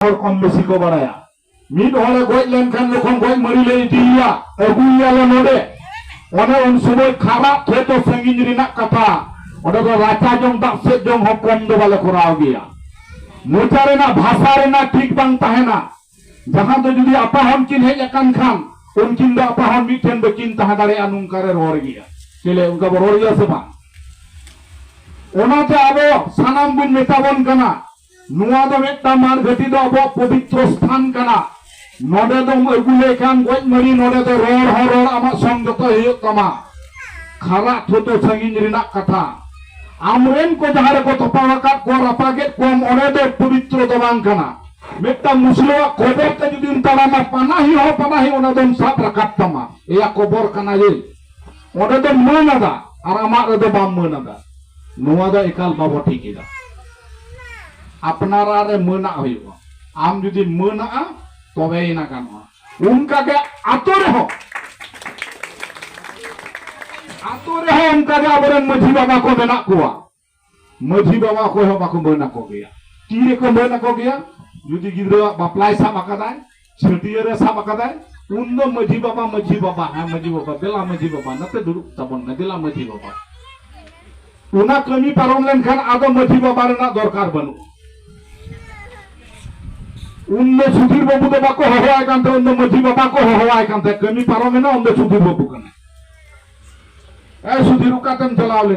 ᱦᱚᱲ ᱠᱚᱢ ᱵᱮᱥᱤ ᱠᱚ ᱵᱟᱲᱟᱭᱟ ᱢᱤᱫ ᱦᱚᱲᱮ ᱜᱚᱡ ᱞᱮᱱᱠᱷᱟᱱ ᱡᱚᱠᱷᱚᱱ ᱜᱚᱡ ᱢᱟᱹᱨᱤ ᱞᱮ ᱤᱫᱤᱭᱮᱭᱟ ᱟᱹᱜᱩᱭᱮᱭᱟᱞᱮ ᱱᱚᱰᱮ ᱚᱱᱮ ᱩᱱ ᱥᱚᱢᱚᱭ ᱠᱷᱟᱨᱟᱯ ᱴᱷᱮᱡ ᱫᱚ ᱥᱟᱺᱜᱤᱧ ᱨᱮᱱᱟᱜ ᱠᱟᱛᱷᱟ ᱚᱸᱰᱮ ᱫᱚ ᱨᱟᱪᱟ ᱡᱚᱢ ᱫᱟᱜ ᱥᱮᱫ ᱡᱚᱢ ᱦᱚᱸ ᱠᱚᱢ ᱫᱚ ᱵᱟᱞᱮ ᱠᱚᱨᱟᱣ ᱜᱮᱭᱟ ᱢᱚᱪᱟ ᱨᱮᱱᱟᱜ ᱵᱷᱟᱥᱟ ᱨᱮᱱᱟᱜ ᱴᱷᱤᱠ ᱵᱟᱝ ᱛᱟᱦᱮᱱᱟ ᱡᱟᱦᱟᱸ ᱫᱚ ᱡᱩᱫᱤ ᱟᱯᱟ ᱦᱚᱱ ᱠᱤᱱ ᱦᱮᱡ ᱟᱠᱟᱱ ᱠᱷᱟᱱ ᱩᱱᱠᱤᱱ ᱫᱚ ᱟᱯᱟ ᱦᱚᱱ ᱢᱤᱫᱴᱷᱮᱱ ᱵᱟᱹᱠᱤᱱ ᱛᱟᱦᱮᱸ ᱫᱟᱲᱮᱭᱟᱜᱼᱟ ᱱᱚᱝᱠᱟ ᱨᱮ ᱨᱚᱲ ᱜᱮᱭᱟ ᱪᱮᱞᱮ ᱚᱱᱠᱟ ᱵᱚ ᱨᱚᱲ ᱜᱮᱭᱟ ᱥᱮ ᱵᱟᱝ ᱚᱱᱟᱛᱮ ᱟᱵᱚ ᱥᱟᱱᱟᱢ ᱵᱚᱱ ᱢᱮᱛᱟᱵᱚᱱ ᱠᱟᱱᱟ ᱱᱚᱣᱟ ᱫᱚ ᱢᱤᱫᱴᱟᱝ ᱢᱟᱨᱜᱷᱟᱹᱴᱤ ᱫᱚ ᱟᱵᱚᱣᱟᱜ ᱯᱚᱵᱤᱛᱨᱚ ᱥᱛᱷᱟᱱ ᱠᱟᱱᱟ ᱱᱚᱰᱮ ᱫᱚᱢ ᱟᱹᱜᱩ ᱞᱮᱠᱷᱟᱱ ᱜᱚᱡ ᱢᱟᱹᱨᱤ ᱱᱚᱰᱮ ᱫᱚ ᱨᱚᱲ ᱦᱚᱸ ᱨᱚᱲ ᱟᱢᱟᱜ ᱥᱚᱝ ᱡᱚᱛᱚ ᱦᱩᱭᱩᱜ ᱛᱟᱢᱟ ᱠᱷᱟᱨᱟᱜ ᱛᱷᱚᱛᱚ ᱥᱟᱺᱜᱤᱧ ᱨᱮᱱᱟᱜ ᱠᱟᱛᱷᱟ ᱟᱢᱨᱮᱱ ᱠᱚ ᱡᱟᱦᱟᱸ ᱨᱮᱠᱚ ᱛᱚᱯᱟᱣ ᱟᱠᱟᱫ ᱠᱚᱣᱟ ᱨᱟᱯᱟᱜᱮᱫ ᱠᱚᱣᱟᱢ ᱚᱸᱰᱮ ᱫᱚ ᱯᱚᱵᱤᱛᱨᱚ ᱫᱚ ᱵᱟᱝ ᱠᱟᱱᱟ ᱢᱤᱫᱴᱟᱝ ᱢᱩᱥᱞᱟᱹᱣᱟᱜ ᱠᱚᱵᱚᱨ ᱛᱮ ᱡᱩᱫᱤᱢ ᱛᱟᱲᱟᱢᱟ ᱯᱟᱱᱟᱦᱤ ᱦᱚᱸ ᱯᱟᱱᱟᱦᱤ ᱚᱱᱟ ᱫᱚᱢ ᱥᱟᱵ ᱨᱟᱠᱟᱵ ᱛᱟᱢᱟ ᱮᱭᱟ ᱠᱚᱵᱚᱨ ᱠᱟᱱᱟ ᱡᱮ ᱚᱸᱰᱮ ᱫᱚ ᱢᱟᱹᱱ ᱟᱫᱟ ᱟᱨ ᱟᱢᱟᱜ ᱨᱮᱫᱚ ᱵᱟᱢ ᱢᱟᱹᱱ ᱟᱫᱟ ᱱᱚᱣᱟ ᱫᱚ ᱮᱠᱟᱞ ᱵᱟᱵᱚ ᱴᱷᱤᱠ ᱮᱫᱟ ᱟᱯᱱᱟᱨᱟᱜ ᱨᱮ ᱢᱟᱹᱱᱟᱜ ᱦᱩᱭᱩᱜᱼᱟ ᱟᱢ ᱡᱩᱫᱤ ᱢᱟᱹᱱᱟᱜᱼᱟ ᱛᱚᱵᱮ ᱮᱱᱟ ᱜᱟᱱᱚᱜᱼᱟ ᱚᱱᱠᱟᱜᱮ ᱟᱛᱳ ᱨᱮᱦᱚᱸ ᱟᱛᱳ ᱨᱮᱦᱚᱸ ᱚᱱᱠᱟᱜᱮ ᱟᱵᱚᱨᱮᱱ ᱢᱟᱹᱡᱷᱤ ᱵᱟᱵᱟ ᱠᱚ ᱢᱮᱱᱟᱜ ᱠᱚᱣᱟ ᱢᱟᱹᱡᱷᱤ ᱵᱟᱵᱟ ᱚᱠᱚᱭ ᱦᱚᱸ ᱵᱟᱠᱚ ᱢᱟᱹᱱ ᱟᱠᱚ ᱜᱮᱭᱟ ᱛᱤ ᱨᱮᱠᱚ ᱢᱟᱹᱱ ᱟᱠᱚ ᱜᱮᱭᱟ ᱡᱩᱫᱤ ᱜᱤᱫᱽᱨᱟᱹᱣᱟᱜ ᱵᱟᱯᱞᱟᱭ ᱥᱟᱵ ᱟᱠᱟᱫᱟᱭ ᱪᱷᱟᱹᱴᱭᱟᱹᱨᱮ ᱥᱟᱵ ᱟᱠᱟᱫᱟᱭ ᱩᱱ ᱫᱚ ᱢᱟᱹᱡᱷᱤ ᱵᱟᱵᱟ ᱢᱟᱹᱡᱷᱤ ᱵᱟᱵᱟ ᱦᱮᱸ ᱢᱟᱹᱡᱷᱤ ᱵᱟᱵᱟ ᱫᱮᱞᱟ ᱢᱟᱹᱡᱷᱤ ᱵᱟᱵᱟ ᱱᱟᱛᱮ ᱫᱩᱲᱩᱵ ᱛᱟᱵᱚᱱ ᱢᱮ ᱫᱮᱞᱟ ᱢᱟᱹᱡᱷᱤ ᱵᱟᱵᱟ ᱚᱱᱟ ᱠᱟᱹᱢᱤ ᱯᱟᱨᱚᱢ ᱞᱮᱱᱠᱷᱟᱱ ᱟᱫᱚ ᱢᱟᱹᱡᱷᱤ ᱵᱟᱵᱟ ᱨᱮᱱᱟᱜ ᱫᱚᱨᱠᱟᱨ ᱵᱟᱹᱱᱩᱜᱼᱟ ᱩᱱ ᱫᱚ ᱥᱩᱫᱷᱤᱨ ᱵᱟᱹᱵᱩ ᱫᱚ ᱵᱟᱠᱚ ᱦᱚᱦᱚᱣᱟᱭ ᱠᱟᱱ ᱛᱟᱦᱮᱸ ᱩᱱ ᱫᱚ ᱢᱟᱹᱡᱷᱤ ᱵᱟᱵᱟ ᱠᱚ ᱦᱚᱦᱚᱣᱟᱭ ᱠᱟᱱ ᱛᱟᱦᱮᱸ ᱠᱟᱹᱢᱤ ᱯᱟᱨᱚᱢᱮᱱᱟ ᱩᱱ ᱫᱚ ᱥᱩᱫᱷᱤᱨ ᱵᱟᱹᱵᱩ ᱠᱟᱱᱟᱭ ᱮ ᱥᱩᱫᱷᱤᱨ ᱚᱠᱟᱛᱮᱢ ᱪᱟᱞᱟᱣ ᱞᱮᱱᱟ